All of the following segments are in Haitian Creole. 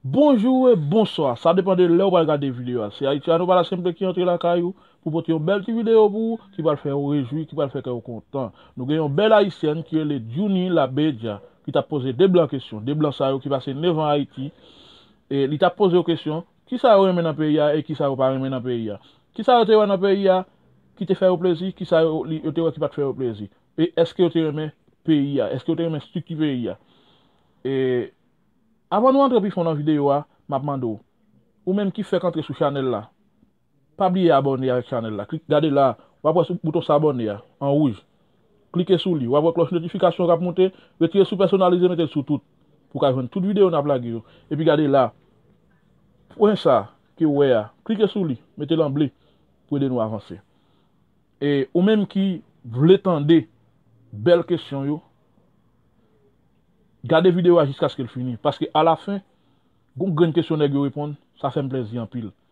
Bonjour et bonsoir, sa depan de lè ou pral gade video a. Se Haitiano Pala Siempre ki antre lakay ou pou pote yon bèl ti video pou ou ki pral fè ou rejwi, ki pral fè kè ou kontan. Nou gen yon bèl Ayisyèn ki rele Djounie Labeja ki tap poze 2 blan kesyon, 2 blan sa yo ki pase 9 an Ayiti E li t ap poze yo kesyon, Kisa yo renmen nan peyi a e kisa yo pa renmen nan peyi a? Kisa yo te wè nan peyi a ki te fè yo plezi? Kisa yo te wè ki pa t fè yo plezi? E èske yo te renmen peyi a? Èske yo te renmen estrikti peyi a? E Avan nou antre pi fon nan videyo a, m ap mande w, Ou menm ki fèk antre sou chanèl la, Pa bliye abòne avèk chanèl la klik gade la wap wè sou bouton s'abonner a an wouj klike sou li wap wè klòch notification kap moute retire sou pèsonalize metel sou tout pou ka jwenn tout video nap lage yo epi gade la pwen sa kew wè a klike sou li metel an ble pou ede nou avanse e ou menm ki vle tande bèl kesyon yo gade video a jiskaskel fini paske a la fen gon grenn kesyon nèg yo reponn sa fèm plèzi anpil.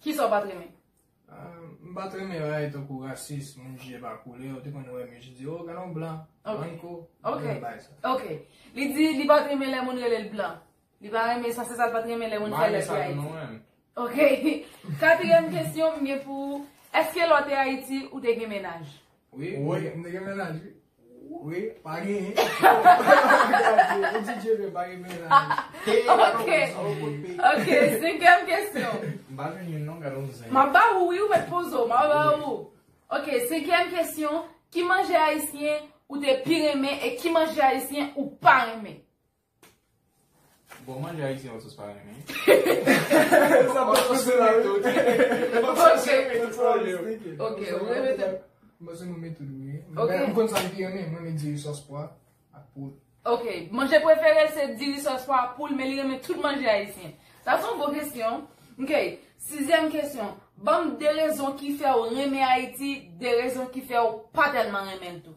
Kisa w pa t renmen? M pa t renmen yo lè tankou rasis, moun jije pa koulè, ou te konn wè mwen jije, oh gade yon blan, blan ko, mwen renmen bay sa. Ok, li di li pa t renmen lè moun rele l blan. Li pa renmen sa, se sa l pa t renmen lè moun fè l epi Ayiti. Mwen renmen sa nou renmen. Ok, katriyèm kesyon m gen pou ou, eske lè w te Ayiti ou te gen menaj? Wi wi m te gen mennaj wi. Wi pa genyen. Ou di Dieuvin pa gen mennaj. Ok senkyèm kesyon. M pa jwenn youn non gad on zen. M ap ba ou wi ou mèt poze w m ap ba ou. Ok senkyèm kesyon ki manje ayisyen ou te pi renmen e ki manje ayisyen ou pa renmen. Bon manje ayisyen yo sòs pa renmen. Sa pa sòs se la wi. Se pa sòs se yo menm pou yo. Ok ou renmen tou. Mwen se nou menm tou wi. Ok. Mwen konn sa m pi renmen. Mwen renmen diri sòs pwa ak poul. Ok. Manje prefere l se diri sòs pwa ak poul men li renmen tout manje ayisyen. Sa se yon bon kesyon. Ok. Sizyèm kesyon. Banm 2 rezon ki fè ou renmen Ayiti, 2 rezon ki fè ou pa tèlman renmen l tou.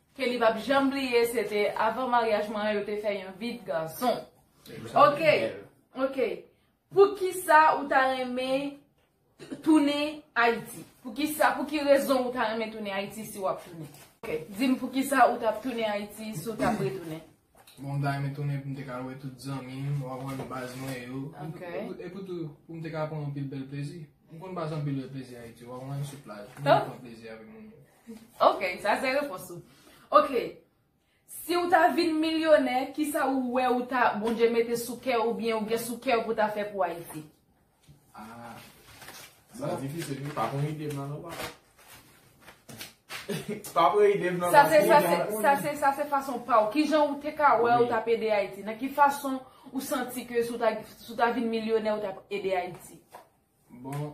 Ke li pap janm bliye se te avan maryaj mwen an yo te fè yon vi de gason. Ok ok poukisa ou ta renmen tounen ayiti poukisa pou ki rezon ou ta renmen tounen ayiti si wap tounen. Ok dim poukisa ou tap tounen ayiti si w tap retounen. Bon m ta renmen tounen pou m te ka wè tout zanmi m wap wè baz mwen yo epi tou pou m te ka pran anpil bèl plezi m konn pase anpil bèl plezi ayiti wap wè m sou plaj m konn pran plezi avèk moun yo. Ok, sa se repons ou. Ok, si ou ta vin milyonè, ki sa ou wè ou ta, Bondye mete sou kè ou byen ou gen sou kè ou pou ta fè pou Ayiti? Ah, sa difisil wi, pa pran ide m nan non papa. Pa pran ide m nan Sa se, paske sa se, mwen sa se, sa se fason pa ou. Ki jan ou te ka wè ou tap ede Ayiti? Nan ki fason ou santi ke si ou ta, si ou ta vin milyonè ou tap ede Ayiti? Bon,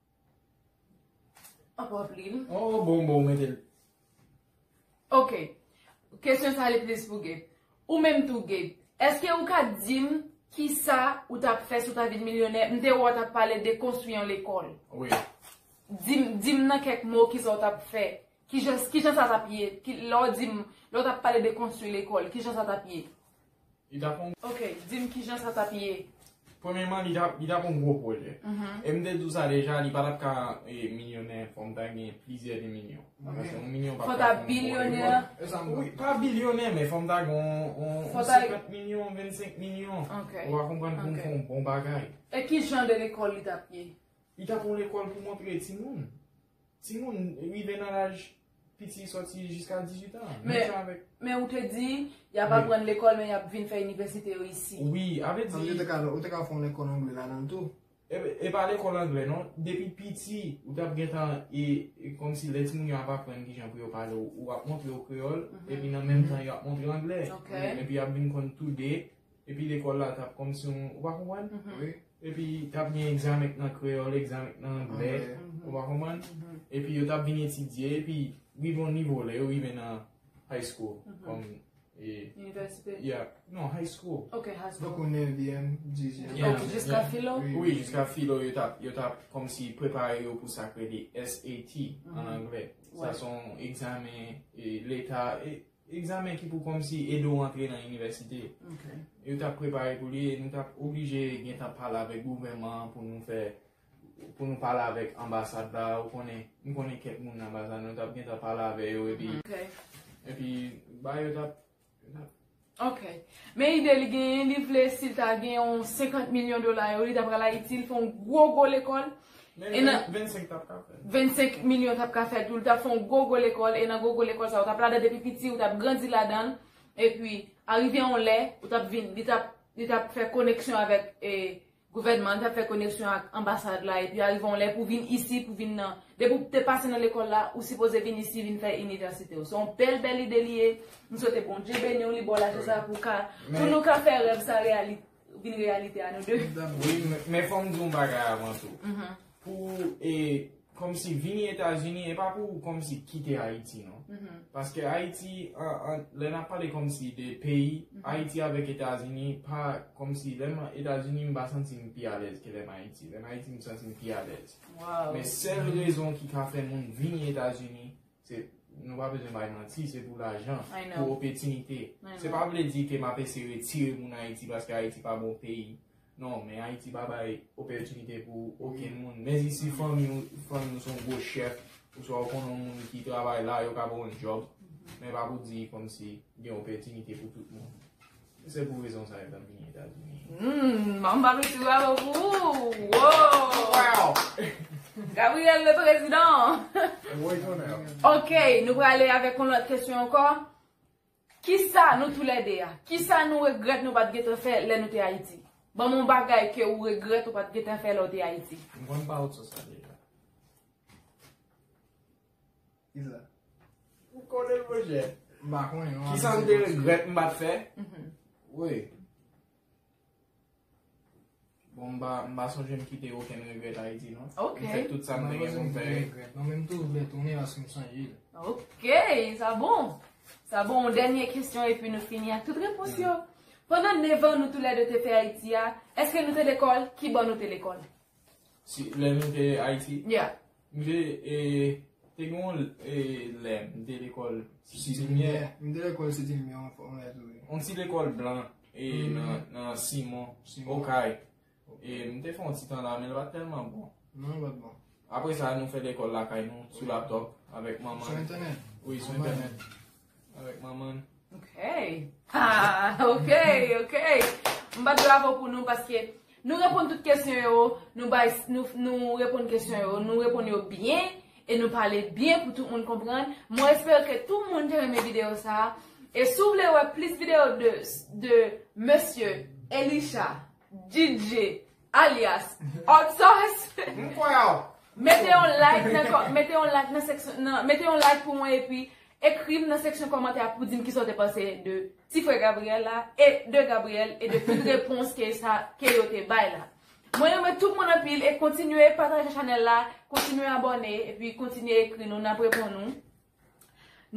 Anpwa plim. Oh bon bon metel. Ok. Kesyon sa li plis pou Gabe. Ou menm tou Gabe. Eske ou ka dim kisa ou tap fè si w ta vin milyonè? M te wè w tap pale de konstwi yon lekòl. Wi. Dim nan kèk mo kisa w tap fè. Kijan sa tap ye? Lè w dim, lè w tap pale de konstwi lekòl, kijan sa tap ye? Li t ap yon. Ok, di m kijan sa t ap ye. Premyeman, li t ap yon gwo pwojè. E m te di w sa deja, li pa t ap ka milyonè fò m ta gen plizyè demilyon. Paske yon milyon pa t ka fè yon bon. Fò w ta bilyonè. E sa m vle di. Pa bilyonè, men fò m ta gen yon 50 milyon, 25 milyon. Ok. Ou a konprann pou m fè yon bon bagay. E kijan de lekòl li t ap ye? Li t ap yon lekòl pou montre timoun. Timoun rive nan laj. Piti soti jiska 18 an. Men ou te di, y ap aprann lekòl men y ap vin fè inivèsite yo isi. Wi, avè di. Ou te ka fon lekòl angle la nan tou. E pa lekòl angle non. Depi piti, ou te ap gen tan e kòm si lè ti moun yo ap aprann ki jan pou yo pale ou ap montre yo kreyòl. E pi nan menm tan yo ap montre yo angle. E pi y ap vin konn tou de. Epi lekòl la t ap kòmsi yon, ou pa konprann? Wi. Epi t ap gen egzamen nan kreyòl, egzamen nan angle, ou pa konprann? Epi yo t ap vin etidye, epi rive yon nivo, lè yo rive nan high school, kòm. Inivèsite? Ya, non, high school. Ok, high school. Tankou nevyèm, dizyèm. Ya. Ok, jiska filo? Wi, jiska filo, yo t ap, yo t ap kòmsi prepare yo pou sa k rele SAT, an angle. Sa s on egzamen leta, e. Egzamen ki pou kòmsi ede w antre nan inivèsite yo t ap prepare pou li e nou t ap oblije gentan pale avèk gouvèman an pou nou fè pou nou pale avèk anbasad la ou konnen m konnen kèk moun nan anbasad nou t ap gentan pale avè yo epi epi ba yo t ap yo t ap. Ok. Men ide li genyen li vle si l ta gen yon 50 milyon dola yo li ta pral Ayiti l fè yon gwo gwo lekòl Men 25 tap ka fèt. 25 milyon tap ka fèt ou tap fè yon gwo gwo lekòl e nan gwo gwo lekòl sa ou tap ladan depi piti ou tap grandi ladan e pi arive yon lè ou tap vin li tap li tap fè koneksyon avèk e gouvènman li tap fè koneksyon ak anbasad la e pi arive yon lè pou vin isi pou vin nan depi ou te pase nan lekòl la ou sipoze vin isi vin fè inivèsite ou se yon bèl bèl ide li ye m swete Bondye beni ou li ba w lajè sa pou ka pou nou ka fè rèv sa reyalite. Ou vin reyalite a nou 2. Wi men fòm di yon bagay avan tou. Pou e kòm si vini Etazini e pa pou kòm si kite Ayiti non. Paske Ayiti an lè nap pale kòm si de peyi Ayiti avèk Etazini pa kòm si lèm Etazini m pa santi m pi alèz ke lèm Ayiti. Lèm Ayiti m santi m pi alèz. Men sèl rezon ki ka fè moun vini Etazini Se nou pa bezwen bay manti, se pou lajan, pou opetinite. Se pa vle di ke map ese retire moun Ayiti paske Ayiti pa bon peyi. Non, men Ayiti pa bay opetinite pou oken moun. Men si si fanmi ou, fanmi ou son gwo chèf, ou swa ou konnen moun ki travay la, yo ka ba ou yon job. Men pa pou di kòm si gen opetinite pou tout moun. Se pou rezon sa yo ta vini Etazini. Mmm, an ba mesi bravo pou ou. Wow! Gabriel le prezidan! Woy tonè. Ok, nou prale avèk yon lòt kesyon ankò. Kisa nou tou lè de a? Kisa nou regrèt nou pat gentan fè lè nou te Ayiti? Banm yon bagay ke ou regrèt ou pat gentan fè lè ou te Ayiti. M konn pa ou t sou sa deja. Ou konnen l mwen chè? M pa konnen non. Ki sa m te regrèt m pa t fè? Woy. Bon m pa sonje m kite okenn regrèt Ayiti non. Ok. M fè tout sa m te gen pou m fè. Mwen menm tou m vle tounen paske m sonje l. Ok. Sa bon. Sa bon. Yon dènye kesyon epi nou fini ak tout repons yo. Pandan nevan nou tou lè de te fè Ayiti a, èske nou te lekòl? Ki bò nou te lekòl? Lè nou te Ayiti? Yeah. M te te gen yon lè m te lekòl Siti Limyè. M te lekòl Siti Limyè yon fwa mwen tou wi. Yon ti lekòl blan e nan Simon, Okay. E m te fè yon ti tan la men l pa t tèlman bon. Non l pa t bon. Apre sa nou fè lekòl lakay nou sou laptòp avèk manman. Sou entènèt? Wi sou entènèt. Avèk manman l. Ok. Ahh ok ok. M bat bravo pou nou paske nou reponn tout kesyon yo, nou bay nou reponn kesyon yo, nou reponn yo byen e nou pale byen pou tout moun konprann. Mwen espere ke tout moun te renmen videyo sa a. E si w vle wè plis videyo de mesye Elisha DJ. Alyas, Odsos! M kwè a w! Mete yon like nan kò, mete yon like nan seksyon, nan, mete yon like pou mwen epi ekri m nan seksyon kòmantè a pou di m kisa w te panse de ti frè Gabriel la e de Gabriel e de tout repons ke sa, ke yo te bay la. Mwen renmen tout moun anpil e kontinye pataje chanèl la, kontinye abòne epi kontinye ekri nou, n ap reponn ou.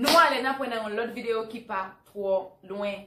Nou ale, n ap wè nan yon lòt videyo ki pa twò lwen.